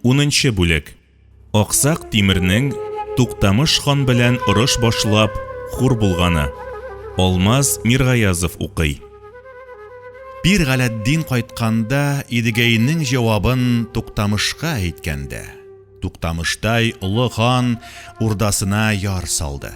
Унынчы бүлек. Аксак Тимернең Туктамыш хан белән орыш башлап, хур булганы. Алмаз Миргаязов укый. Пир Галәддин кайтканда Идегәйнең җавабын Туктамышка әйткәндә, Туктамыштай олы хан урдасына яр салды.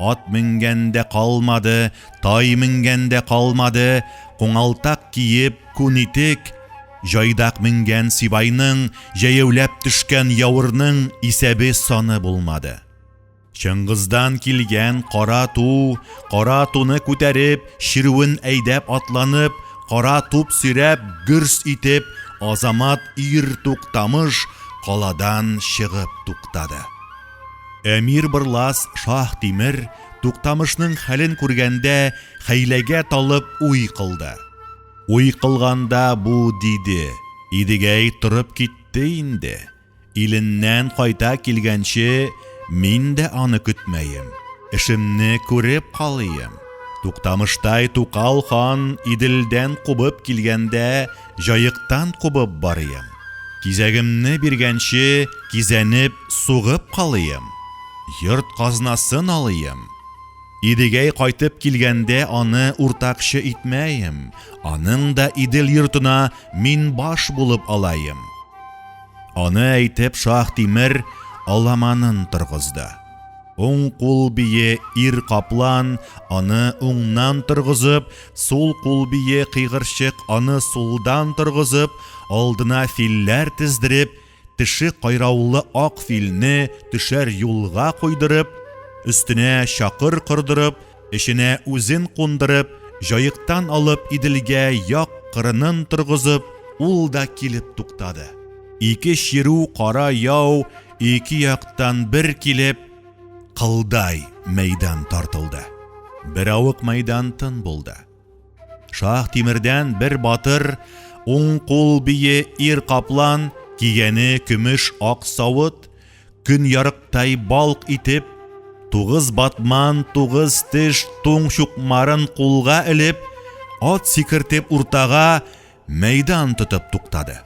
Ат менгән дә калмады, тай менгән дә калмады, куңалтак киеп, күн итек, җайдак менгән сибайның, җәяүләп төшкән явырның исәбе-саны булмады. Чыңгыздан килгән кара ту, кара туны күтәреп, чирүен әйдәп атланып, кара туп сөйрәп, гөрс итеп, азамат ир-тук тамыш каладан чыгып туктады. Әмир Бырлас Шаһ Тимер Туктамышның хәлен күргәндә хәйләгә талып уй кылды. Уй кылганда бу диде, Идегәй торып китте инде. Иленнән кайта килгәнче мин дә аны көтмәем. Эшемне күреп калыйм. Туктамыштай Тукал хан Иделдән кубып килгәндә җаектан кубып барыйм. Кизәгемне биргәнче кизәнеп, сугып калыйм. Йорт казнасын алыйм. Идегәй кайтып килгәндә аны уртакчы итмәем, аның да Идел йортына мин баш булып алаем. Аны әйтеп Шаһтимер аламанын торгызды. Уң кул бие Ир Каплан аны уңнан торгызып, Сул кул бие кыйгырчык аны сулдан торгызып, алдына филләр тездереп, теше кайраулы ак филне төшәр юлга куйдырып, өстенә чакыр кордырып, эченә үзен кундырып, җаектан алып Иделгә як кырынын торгызып, ул да килеп туктады. Ике чирү кара яу ике яктан бер килеп, кылдай мәйдан тартылды. Беравык мәйдан тын булды. Шах Тимердән бер батыр, уң кул бие ир каплан, кигәне көмеш ак савыт, көн ярыктай балк итеп, тугыз батман, тугыз теш туң чукмарын кулга элеп, ат сикертеп уртага Мәйдан тотып туктады.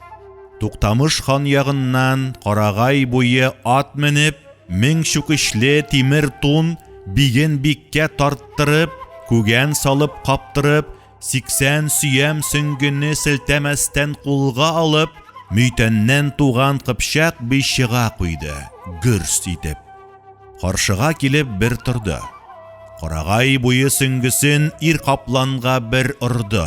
Туктамыш хан ягыннан Карагай буе ат менеп, мең чүкечле тимер тун биген биккә тарттырып, күгән салып каптырып, сиксән сөям сөңгене селтәмәстән кулга алып, Мөйтәннән туган Кыпчак би чыга куйды, гөрс итеп. Каршыга килеп бер торды. Карагай буе сөңгесен ир капланга бер орды.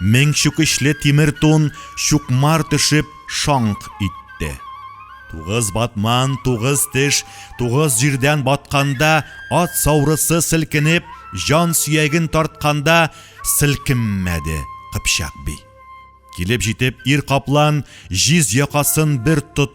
Мең чүкечле тимер тун чукмар төшеп шаңк итте. Тугыз батман, тугыз теш, тугыз җирдән батканда, ат саурысы селкенеп, җан сөяген тартканда селкенмәде Кыпчак би. Килеп җитеп, ир каплан җиз якасын бер тот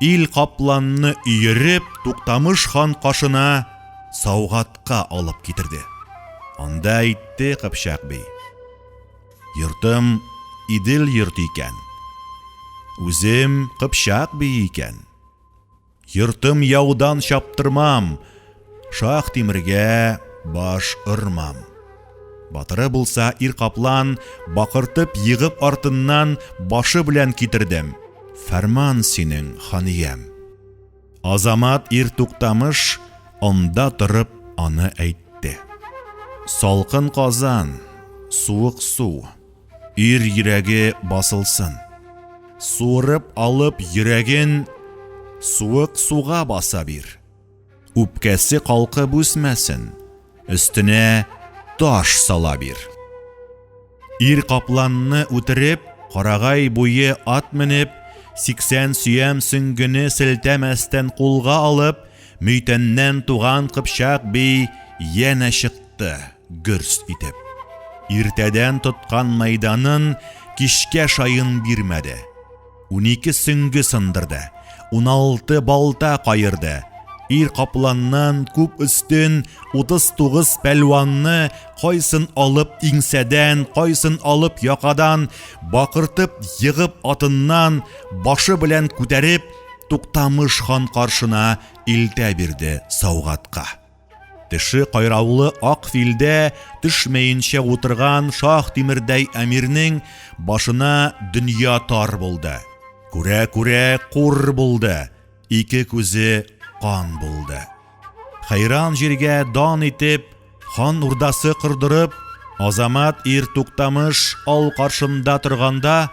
Ил капланны өереп, Туктамыш хан кашына саугатка алып китерде. Анда әйтте Кыпчак бей. Йортым Идел йорты икән. Үзем Кыпчак бие икән. Йортым яудан чаптырмам, Шаһ Тимергә баш ормам. Батыры булса ир каплан, бакыртып егып артыннан башы белән китердем. Фәрман синең, ханиям. Азамат ир туктамыш анда торып аны әйтте. Салкын казан, суык су, ир йөрәге басылсын. Суырып алып йөрәген суык суга баса бир. Үпкәсе калкып үсмәсен, өстенә таш сала бир. Ир капланны үтереп, карагай буе ат менеп, сиксән сөям сөңгене селтәмәстән кулга алып, мөйтәннән туган кыпчак бей янә чыкты, гөрс итеп. Иртәдән тоткан мәйданын кичкә шаен бирмәде. Унике сөңге сындырды, уналты балта каерды, ир капланнан күп өстен утыз тугыз пәлванны кайсын алып иңсәдән, кайсын алып якадан, бакыртып егып атыннан, башы белән күтәреп, Туктамыш хан каршына илтә бирде Саугатка. Теше кайраулы ак филдә төшмәенчә утырган шах тимердәй әмирнең башына дөнья тар булды. Күрә-күрә кур булды, ике күзе кан булды. Хәйран җиргә дан итеп, хан урдасы кордырып, Азамат ир Туктамыш ал каршында торганда,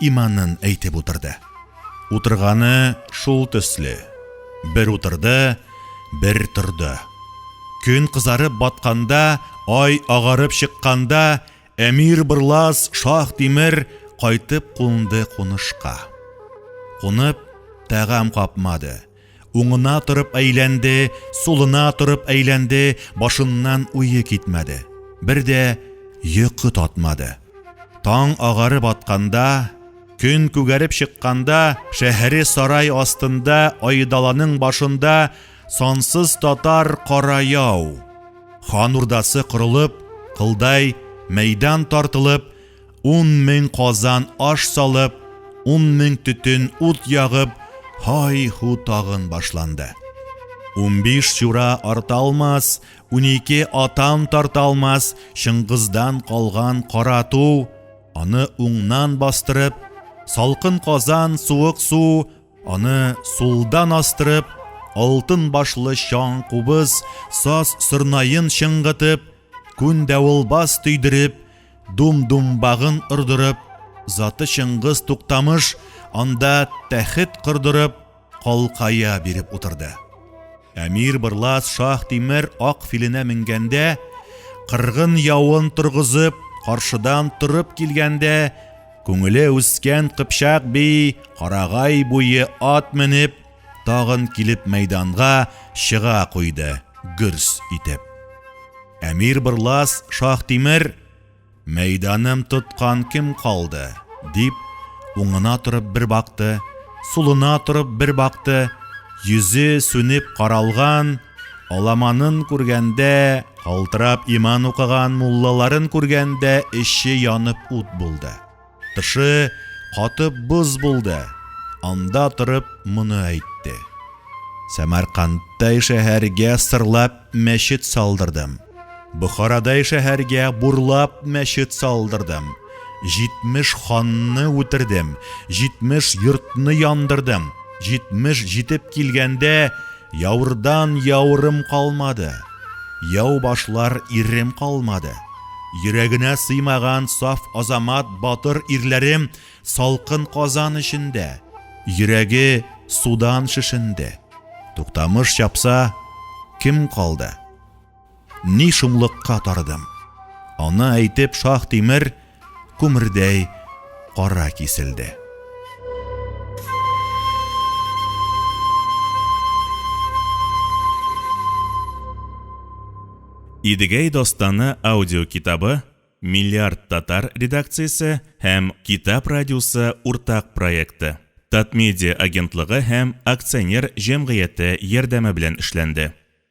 Иманын әйтеп утырды. Утырганы шул төсле. Бер утырды, бер торды. Көн кызарып батканда, ай агарып чыкканда, Әмир Бырлас Шах Тимер кайтып кунды кунышка. Кунып, тәгам капмады. Уңына торып әйләнде, сулына торып әйләнде, башыннан уе китмәде. Бер дә йокы татмады. Таң агарып атканда, көн күгәреп чыкканда, шәһәре сарай астында, айдаланың башында сансыз татар кара яу. Хан урдасы корылып, кылдай мәйдан тартылып, Ун мең казан аш салып, ун мең төтен ут ягып, һай-һу тагын башланды. Унбиш чура арта алмас, унике атан тарта алмас, Чыңгыздан калган кара ту, аны уңнан бастырып, салкын казан, суык су, аны сулдан астырып, алтын башлы чаң кубыз, саз сырнаен чыңгытып, Күн дәвылбас төйдереп, дум-думбагын ордырып, заты Чыңгыз Туктамыш анда тәхет кордырып, калкая биреп утырды. Әмир Бырлас шах Тимер ак филенә менгәндә, кыргын явын торгызып, каршыдан торып килгәндә, күңеле үскән кыпчак би карагай буе ат менеп, тагын килеп мәйданга чыга куйды, гөрс итеп. Әмир Бырлас Шаһтимер, мәйданым тоткан кем калды, дип, уңына торып бер бакты, сулына торып бер бакты, йөзе сүнеп каралган, аламанын күргәндә, калтырап иман укыган муллаларын күргәндә эче янып ут булды. Тышы катып боз булды. Анда торып моны әйтте. Сәмәркандтай шәһәргә сырлап мәчет салдырдым. Бохарадай шәһәргә бурлап мәчет салдырдым. Җитмеш ханны үтердем, җитмеш йортны яндырдым. Җитмеш җитеп килгәндә, Яурдан яурым калмады, Яу башлар ирем калмады. Йөрәгенә сыймаган саф азамат батыр ирләрем Салкын казан эчендә, Йөрәге судан шешенде. Туктамыш чапса, кем калды? Ни шомлыкка тардым. Аны әйтеп шах тимер күмердәй кара киселде. Идегәй достаны аудио китабы Миллиард татар редакциясе һәм Китап радиосы уртак проекты. Татмедиа агентлыгы һәм акционер җәмгыяте ярдәме белән эшләнде.